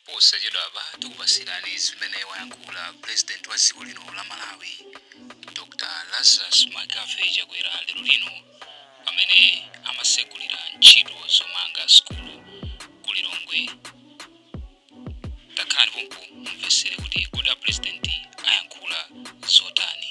Posachedwapa tikupatsirani zimene wayankhula Pulezidenti wa dziko lino la Malawi, Dr Lazarus McCarthy Chakwera lero lino pamene amatsegulira ntchito zomanga sukulu ku Lilongwe. Takhalani pompo mumvetsere kuti kodi a Pulezidenti ayankhula zotani.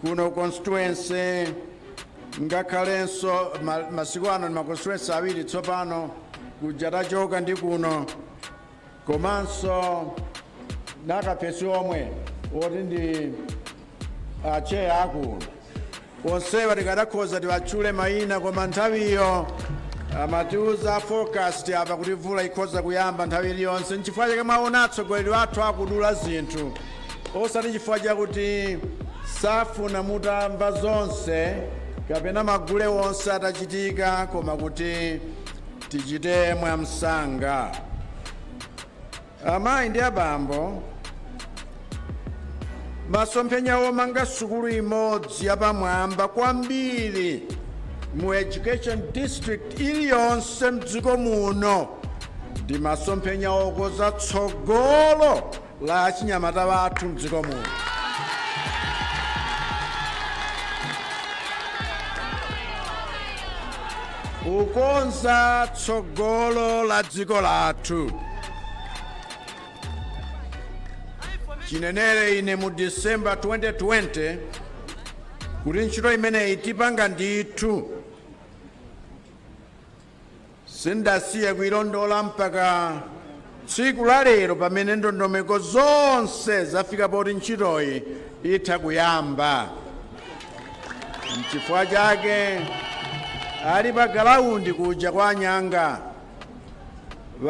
kuno constituency ngakhalenso masiku ano ndi ma constituency awiri tsopano kuja tachoka ndi kuno komanso nakapesi omwe oti ndi acheya akuno onsewa tikadakhoza tiwatchule mayina koma nthawiyo amatiuza forecast apa kuti mvula ikhoza kuyamba nthawi iliyonse nchifukwa chake mwaona atsogoleri athu akudula zinthu osati chifukwa chakuti safuna mutamva zonse kapena magule onse atachitika, koma kuti tichite mwamsanga. Amayi ndi abambo, masomphenya omanga sukulu imodzi yapamwamba kwambiri mu education district iliyonse mdziko muno ndi masomphenya okoza tsogolo la achinyamata wathu mdziko muno. Kukonza tsogolo la dziko lathu. Chinenere ine mu December 2020 kuti ntchito imeneyi tipanga ndithu Sindasiye kuilondola mpaka tsiku la lero pamene ndondomeko zonse zafika poti ntchitoyi itha kuyamba. N'chifukwa chake ali pa galaundi kuja kwa a Nyanga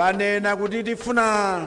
anena kuti tifuna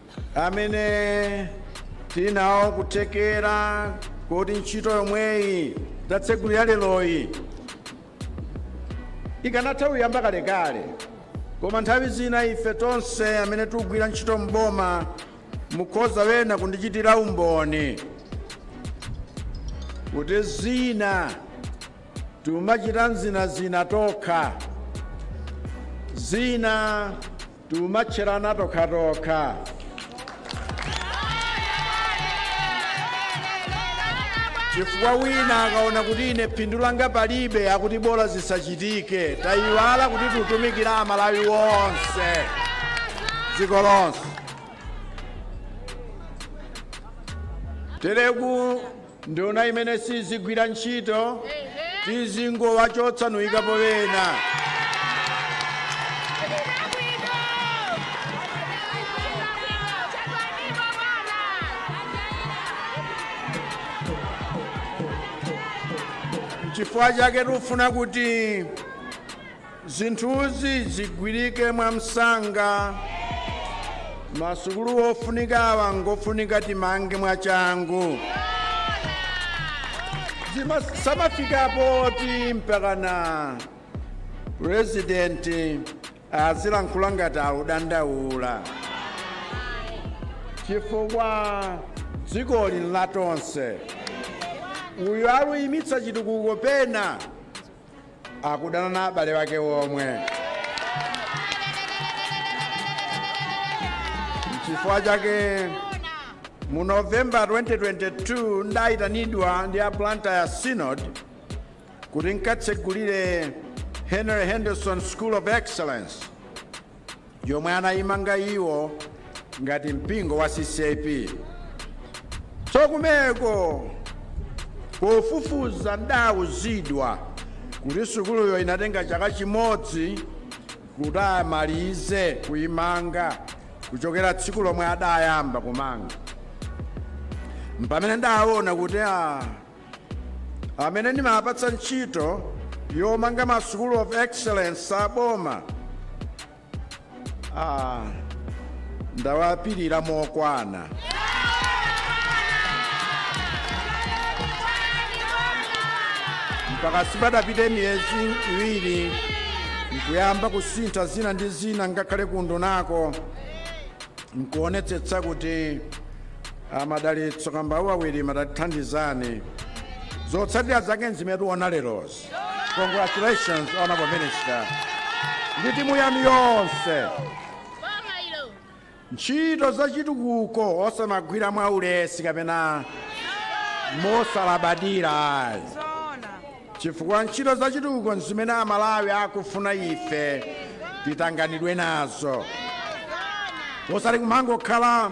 amene tili nawo kuthekera koti ntchito yomweyi tatsegulira leroyi ikanatha kuyamba kalekale koma nthawi zina ife tonse amene tikugwira ntchito m'boma mukhoza wena kundichitira umboni kuti zina tiumachita zinazina tokha zina Tiumatcherana tokhatokha. Chifukwa wina akaona kuti ine phindu langa palibe akuti bola zisachitike. Taiwala kuti tutumikira Amalawi onse. Dziko lonse. Tereku Nduna imene sizigwira ntchito tizingowachotsa nkuikapo ena. Chifukwa chake tikufuna kuti. Zinthuzi zigwirike mwamsanga. Masukulu ofunika awa ngofunika timange mwachangu. Zisamafika poti mpakana president azilankhula ngati akudandaula chifukwa dzikoli nlatonse uyu akuyimitsa chitukuko pena akudana na abale wake omwe chifukwa chake mu november 2022 ndayitanidwa ndi a blantyre synod kuti nkatsegulire henry henderson school of excellence yomwe anayimanga iwo ngati mpingo wa ccap tsono kumeneko pofufuza ndawuzidwa kuti sukuluyo inatenga chaka chimodzi kuti amalize kuyimanga kuchokera tsiku lomwe adayamba kumanga mpamene ndawona kuti a amene ndimawapatsa ntchito yomanga ma school of excellence aboma ah, ndawapirira mokwana mpaka sipadapite miyezi iwiri nkuyamba kusintha zina ndi zina ngakhale kundunako nkuonetsetsa kuti a madalitso kambauwa wirima tatithandizani zotsatira zake nzimene tikuona lerozi congratulations honorable minister ndi timu yanu yonse ntchito zachitukuko osamagwira mwa ulesi kapena mosalabadira ayi chifukwa ntchito zachitukuko nzimene amalawi akufuna ife titanganidwe nazo osati kumangokhala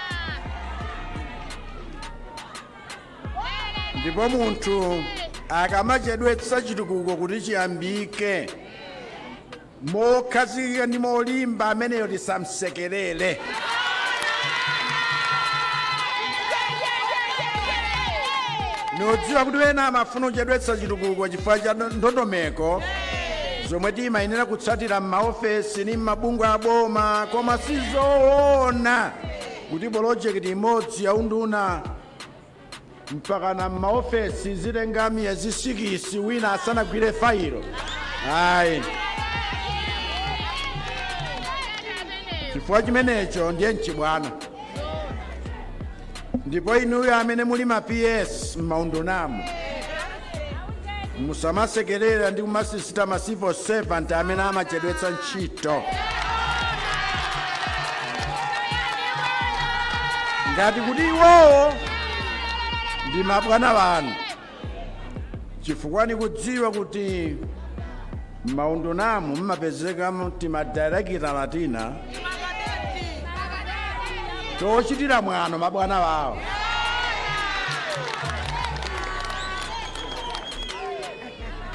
ndipo munthu akamachedwetsa chitukuko kuti chiyambike mokhazikika ndi molimba ameneyo tisamsekerere ndikudziwa kuti wena amafuna kuchedwetsa chitukuko chifukwa cha ndondomeko zomwe timayenera kutsatira m'maofesi ndi m'mabungwe a boma koma sizoona kuti polojekiti imodzi ya unduna mpakana m'maofesi zitenga miyezi sikisi wina asanagwire failo ayi chifukwa chimenecho ndiye mchibwana ndipo inuyo amene muli ma ps m'maundunamo musamasekerere ndi kumasisita ma civil servant amene amachedwetsa ntchito ngati kuti iwowo ndi mabwana anu chifukwa nikudziwa kuti m'maundunamu mumapezeka timadirekitala tina tochitira mwano mabwana wawo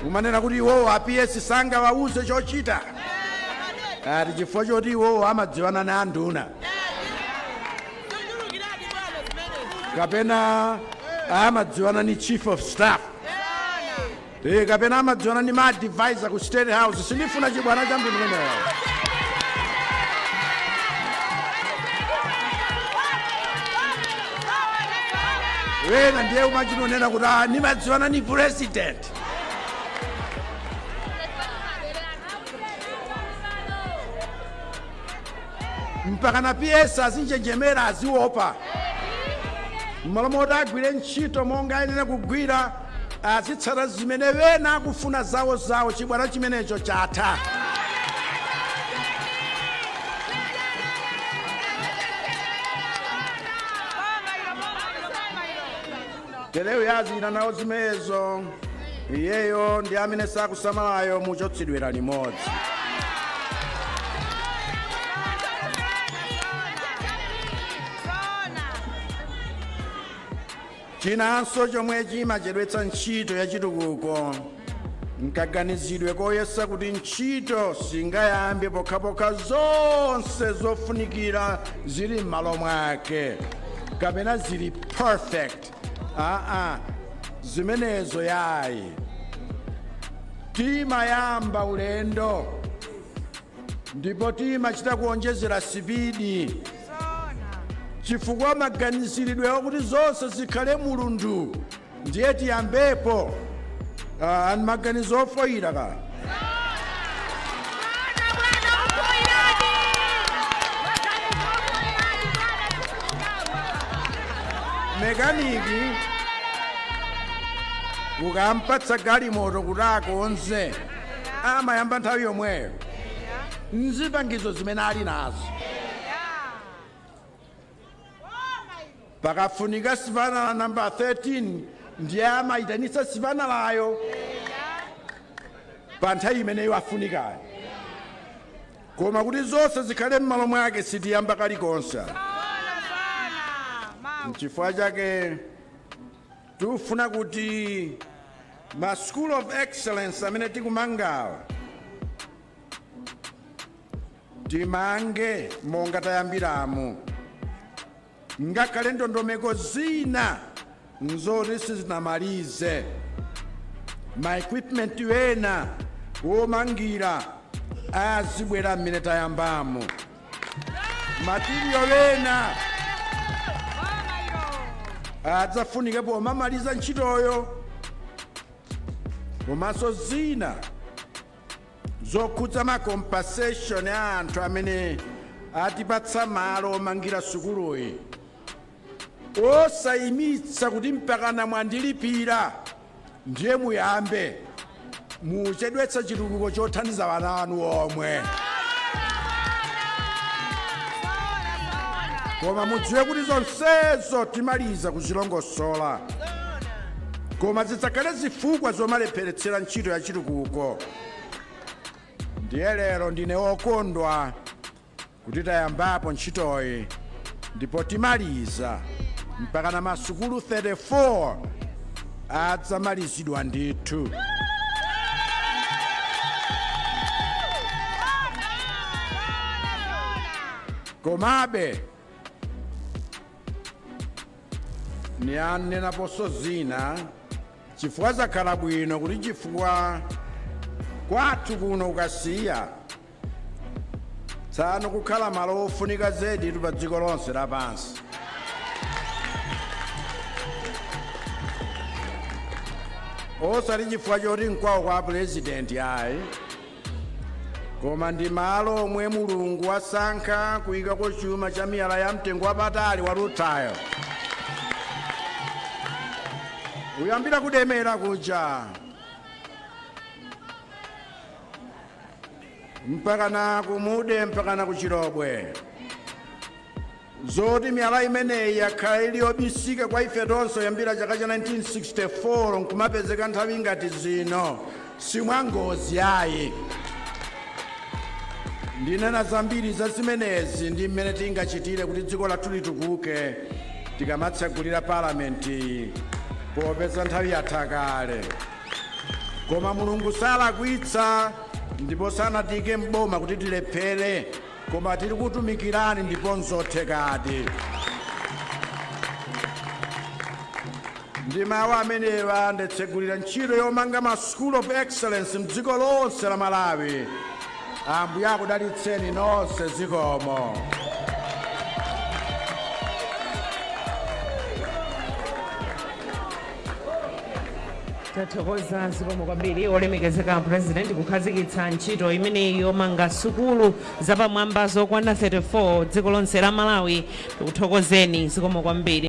kumanena kuti iwowo a PS sangawauze chochita ati chifukwa choti iwowo amadziwana na anduna kapena amadziwana ni chief of staff kapena amadziwana ni maadvisor ku state house sindifuna chibwana cha mtundu umenewo wena ndiye kumachita kunena kuti nimadziwana ni president mpaka na PS azinjenjemera aziopa mmalo moti agwire ntchito monga ayenera kugwira azitsata zimene ena akufuna zawo zawo chibwana chimenecho chatha tere uyo yazichita nawo zimenezo iyeyo ndi amene sakusamalayo muchotsedwera limodzi chinanso chomwe chimachedwetsa ntchito ya chitukuko nkaganizidwe koyesa kuti ntchito singayambe pokhapokha zonse zofunikira zili m'malo mwake kapena zili perfect aa zimenezo yayi timayamba ulendo ndipo timachita kuonjezera sipidi chifukwa maganiziridwe akuti zonse zikhale mulundu ndiye tiyambepo Ah, ayi maganizo ofoyira ka mekaniki ukampatsa galimoto kuti akonze amayamba nthawi yomweyo nzipangizo zimene ali nazo pakafunika sipanala namba 13 ndiye amayitanitsa sipanalayo pa nthawi imeneyo yafunikayo koma kuti zonse zikhale m'malo mwake sitiyamba kalikonse nchifukwa chake tikufuna kuti ma school of excellence amene tikumangawa timange monga tayambiramo ngakhale ndondomeko zina nzoti sizinamalize ma equipment ena womangira azibwera mmene tayambamo matiriyo ena adzafunike pomamaliza ntchitoyo komanso zina zokhudza ma compensation a anthu amene atipatsa malo omangira sukuluyi osayimitsa kuti mpakana mwandilipira ndiye muyambe muchedwetsa chitukuko chothandiza ana anu omwe koma mudziwe kuti zonsezo timaliza kuzilongosola koma zisadzakhale zifukwa zomalepheretsera ntchito ya chitukuko ndiye lero ndine wokondwa kuti tayambapo ntchitoyi ndipo timaliza mpakana masukulu 34 adzamalizidwa ndithu komabe ndinenaponso zina chifukwa zakhala bwino kuti chifukwa kwathu kuno ku Kasiya tsano kukhala malo ofunika zedi pa dziko lonse lapansi osati chifukwa choti nkwawo kwa purezidenti ayi koma ndi malo omwe mulungu wasankha kuyikako chuma cha miyala ya mtengo wapatali wa rutile kuyambira ku Demera kuja mpakana ku Mude mpakana ku Chilobwe Zoti miyala imeneyi yakhala ili yobisika kwa ife tonse yambira chaka cha 1964 n'kumapezeka nthawi ngati zino, si mwangozi ayi. Ndinena zambiri za zimenezi ndi mmene tingachitire kuti dziko lathu litukuke tikamatsegulira Palamenti, popeza nthawi yatha kale. Koma Mulungu salakwitsa ndipo sanatiike m'boma kuti tilephere. Koma tikutumikireni ndipo nzothekadi. Ndi mawu amenewa ndatsegulira ntchito yomanga ma School of Excellence mdziko lonse la Malawi. Ambuye akudalitseni nonse. Zikomo. tathokoza zikomo kwambiri olemekezeka president kukhazikitsa ntchito imeneyi yomanga sukulu zapamwamba zokwana 34 dziko lonse la malawi tikuthokozeni zikomo kwambiri